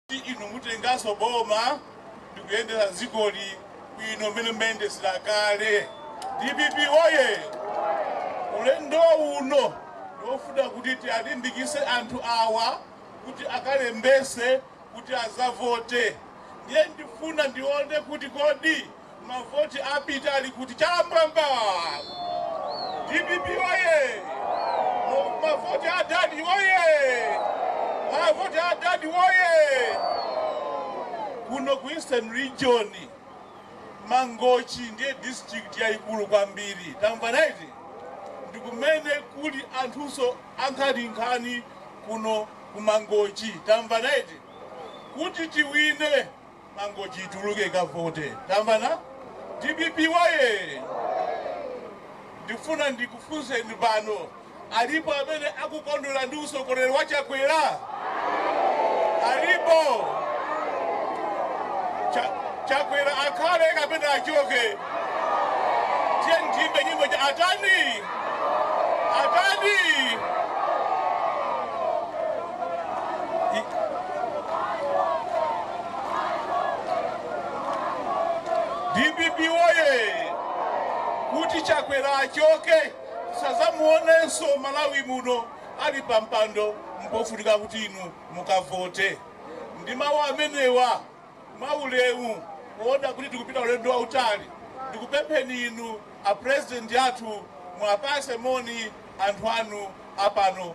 kuti inu mutenganso boma ndikuyendesa dzikoli bwino mmene mmayendesera kale dpp woye ulendo uno ndiofuna kuti tialimbikise anthu awa kuti akalembese kuti azavote ndiye ndifuna ndione kuti kodi Mavoti apita ali kuti? Chamwamba! Dpp oye! Mo- Mavoti a dadi oye! Mavoti a dadi oye! Kuno ku Eastern Region Mangochi ndiye district yayikulu kwambiri. Tamva naiti? Ndi kumene kuli anthunso ankhaninkhani kuno ku Mangochi. Tamva naiti? Kuti tiwine Mangochi ituluke ikavote. Tamvana? Dpp woyee! Ndifuna ndikufunseni pano, alipo amene akukondwera ndi utsogoleri wa Chakwera? Alipo? Cha, Chakwera akhale kapena achoke? Tiyeni tiyimbe nyimbo ija atani atani Dpp woyee! Kuti Chakwera achoke asazamuonenso Malawi muno ali pa mpando mpofunika kuti inu mukavote. Ndi mawu amenewa mwa ulemu poona kuti tikupita ulendo wautali ndikupempheni inu a President athu muwapase moni anthu anu a pano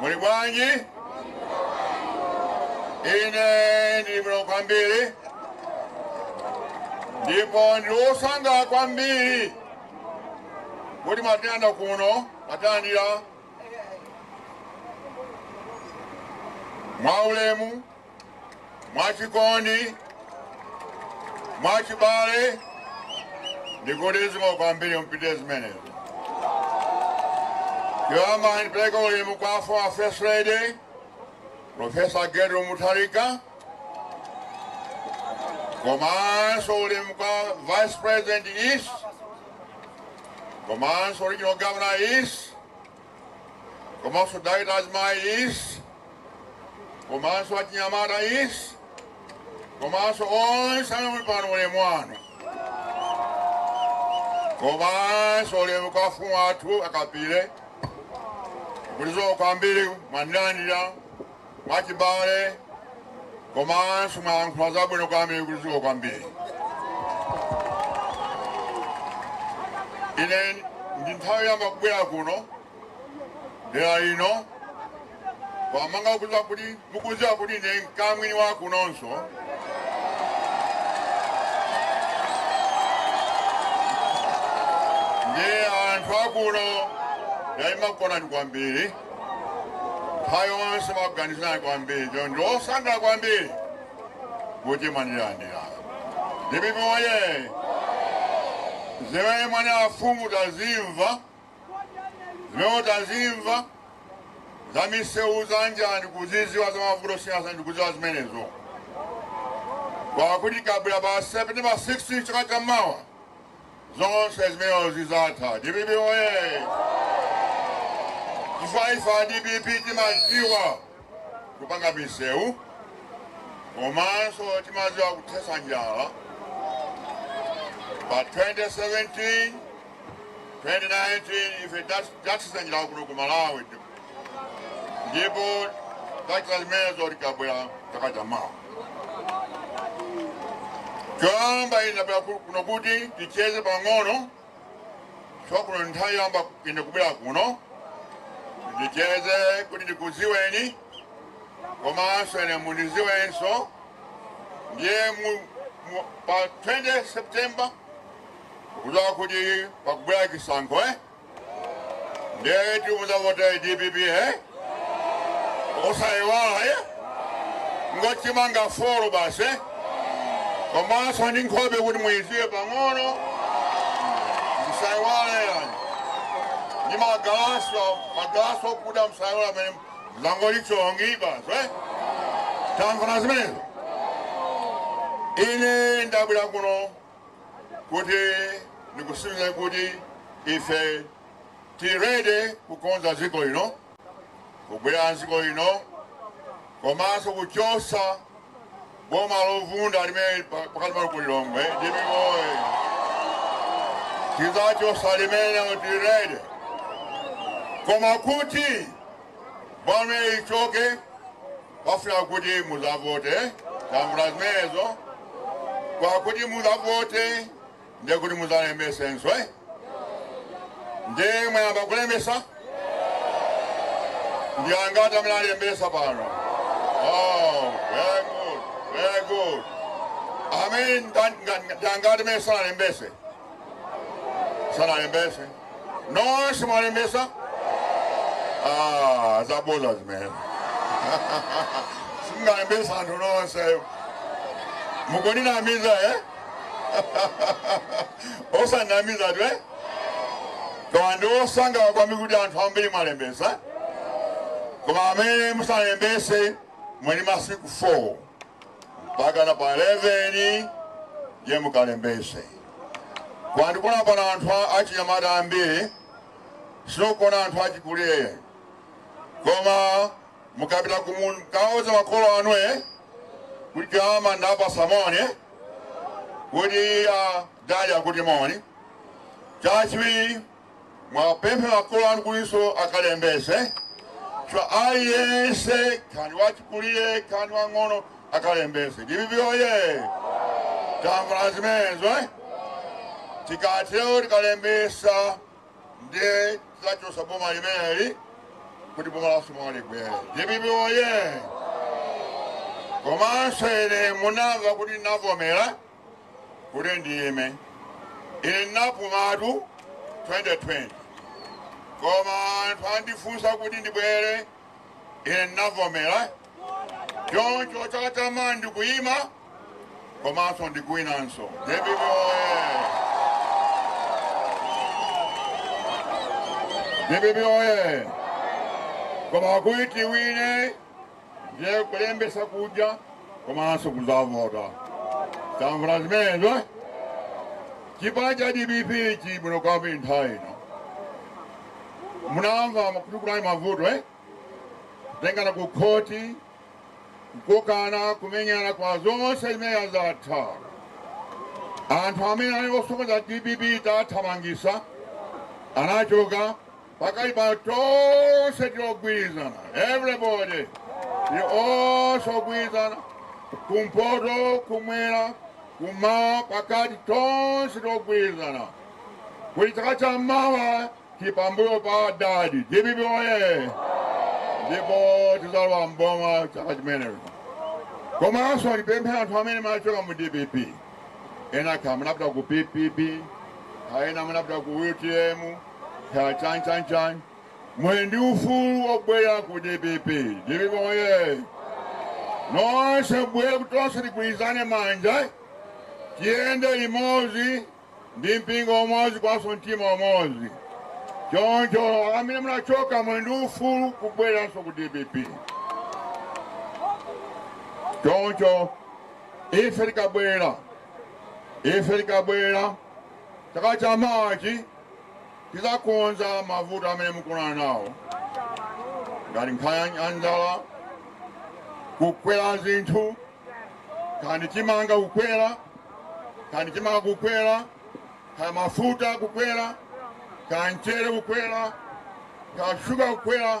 Muli bwanji? Ine ndili bwino kwambiri ndipo ndili wosangalala kwambiri kuti mwatiyendera kuno mwatilandira mwaulemu mwachikondi, mwachibale ndikuti zikomo kwambiri mupitilize zimenezo. Yoyamba ndipereke ulemu kwa former First Lady Profesa Gertrude Mutharika komanso ulemu kwa Vice President East komanso Regional Governor East komanso dai na azimayi East komanso achinyamata East komanso onse amene muli pano ulemu wanu komanso ulemu kwa amfumu athu a Kapile kulizo kwambiri mwandilandira mwachibale komanso mwayankhula zabwino kwambiri kuti zikomo kwambiri ine ndi nthawi yamba kubwera kuno dera lino kwamanga mukuziwa kuti ine mkamwini wa kunonso ndiye anthu akuno ndimakukondani kwambiri nthawi yonse ndimakuganizirani kwambiri choncho ndi osangala kwambiri kuti mwandilandira dpp oye zimene mwanena afumu tazimva zimene tazimva za misewu za njala ndikuziziwa za mavuto osiyanasiyana ndikuziwa zimenezo kwakuti tikabwera pa september 16 chaka chamawa zonse zimenezo zizatha. Dpp oye! Chifukwa ife a dpp timadziwa kupanga misewu komanso timadziwa kuthetsa njala pa 2017 2019 ife tathetsa njala kuno ku malawi ndipo tizachita zimenezo tikabwera chaka cha mawa choyamba ine ndabwera ku- kuno kuti ticheze pang'ono chifukwa kuno nthawi yamba ine kubwera kuno ndicheze kuti ndikuziweni komanso ine mundiziwenso ndiye mu- mu- pa 20 september mukuziwa kuti pakubwera chisankho eh? ndiye kuti muzavote dpp he osayiwala he ndi chimanga folo basi eh? komanso ndi nkhope kuti muyiziwe pang'ono msayiwala yani ndi magalaso magalaso okuda msayiwala amene muzangondichonga basi eh? tamvana zimenezo ine ndabwera kuno kuti ndikusimikize kuti ife tili ready kukonza dziko lino kubwera dziko lino komanso kuchosa boma lovunda limene pa- pakati pa ku lilongwe dpp oye tizachosa limenelo tili ready koma kuti Bomali lichoke pafuna kuti muzavote tamvana zimenezo kwakuti muzavote ndiye kuti muzalembesenso eh? ndiye mwayamba kulembesa ndi angati amene alembesa pano oh, very good, very good. amene ndi angati amene sanalembese sanalembese nonse mwalembesa ah, zaboza zimene singalembesa anthu nonse mukuninamiza eh? osanamiza iwe koma ndili osangalala kwambiri kuti anthu ambiri mwalembesa koma amene musanalembese muli masiku 4 mpaka na pa 11 ndiye mukalembese ndikuona pano anthu a- achinyamata ambiri sindikuona anthu achikulire koma mukapita kumu- mukauza makolo anu e kuti amandipatsa moni kuti adadi akuti moni chachiwiri muwapemphe makolo anu kutinso akalembese chifukwa aliyense kaya ndi wachikulire kaya ndi wang'ono akalembese dpp oye tamvana zimenezo eh? tikatero tikalembesa ndiye tizachosa boma limeneli kuti boma lathu libwere dpp oye komanso ine munamva kuti navomera kuti ndiyime ine ndinapumatu 2020 koma anthu andifunsa kuti ndibwere ine ndinavomera choncho chaka chamawa ndikuyima komanso ndikuwinanso dpp oye dpp oye koma kuti tiwine ndiye kulembesa kuja komanso kuzavota tamvana zimenezo eh? chipani cha dpp chili bwino kwambiri nthawi ino munamva kuti kunali mavuto eh? kutengana ku khoti kukokana kumenyana kwa zonse zimene zatha anthu amene ali osokoneza dpp tathamangisa anachoka Pakali pano tonse tili ogwirizana everybody tili tonse ogwirizana kumpoto kumwera kumawa pakati tonse tili ogwirizana kuti chaka cha mawa tili pambuyo pa adadi dpp oye ndipo tizalowa mboma chaka chimenecho komanso ndipemphe anthu amene munachoka mu dpp ena kaya munapita ku ppp kaya ena munapita ku utm Kaya chani chani chani. Muli ndi ufulu wobwera ku dpp. Dpp oye. Nonse mubwere kuti tonse tigwirizane manja. Tiyende limodzi ndi mpingo umodzi komanso mtima umodzi. Choncho amene munachoka muli ndi ufulu kubweranso ku dpp. Choncho ife tikabwera ife tikabwera chaka cha mawachi Tidzakonza mavuto amene mukukumana nawo ngati nkhani ya njala, kukwera zinthu, kaya ndi chimanga kukwera, kaya ndi chimanga kukwera, kaya mafuta kukwera, kaya mchere kukwera, kaya shuga kukwera.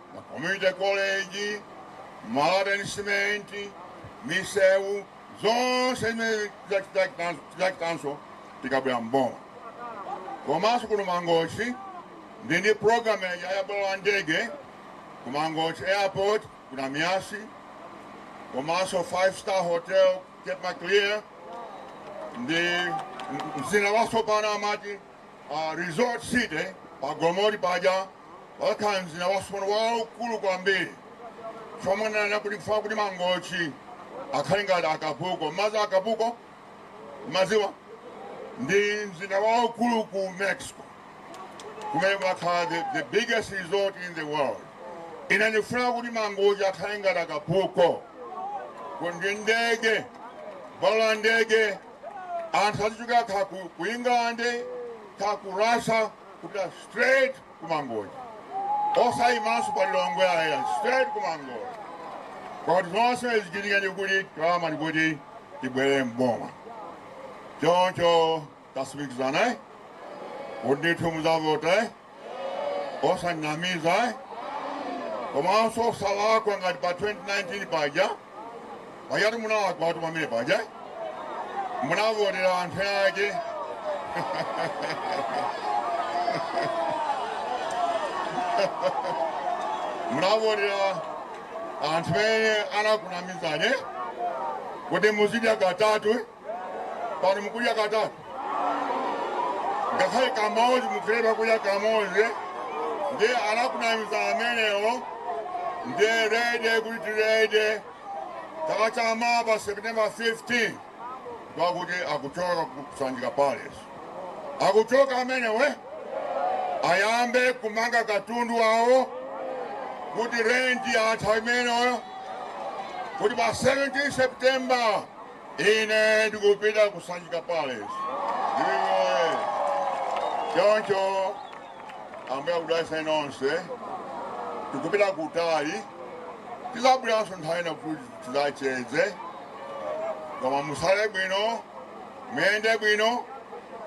ma community college, malata ndi simenti, misewu zonse zimene tizachitanso tikabwera mboma. Komanso kuno Mangochi ndi ndi program ya ya bwalo la ndege ku Mangochi airport ku Namiyasi komanso five star hotel Cape Maclear ndi mzinda watsopano amati Resort City pa Golomoti paja pakhala mzinda watsopano waukulu kwambiri chomwe nanena kuti kufuna kuti Mangochi akhale ngati Acapulco mmadziwa Acapulco mmadziwa ndi mzinda waukulu ku Mexico kumene kumakhala the, the biggest resort in the world ine ndifuna kuti Mangochi akhale ngati Acapulco kundi ndege bwalo la ndege anthu azichokera kaya ku, ku england kaya ku russia kupita straight ku mangochi osayimanso pa lilongwe ayi straight ku mangochi koma kuti zonse zichitike ndikuti tiwama ndikuti tibwere mboma choncho tatsimikizana eh? kuti ndithu muzavota eh? osanamiza eh? komanso osalakwa ngati pa 2019 paja pajatu munalakwatu pamene paja eh? munavotera anthu ake munavotera anthu amene anakunamizani kuti muzidya katatu eh? pano mukudya katatu ngakhale kamodzi mukulephera kudya kamodzi ndi anakunamiza amenewo nde ready kuti tili ready chaka cha mawa pa september 15 kwakuti akuchoka ku sanjika palace akuchoka amenewo ayambe kumanga katundu wawo kuti renti yatha imeneyo kuti pa 17 september Ine ndikupita ku Sanjika Palace. Ewing oye! Choncho Ambuye akudalitseni nonse. Tikupita kutali, tidzabweranso nthawi ina kuti tidzacheze. Koma musale bwino, muyende bwino.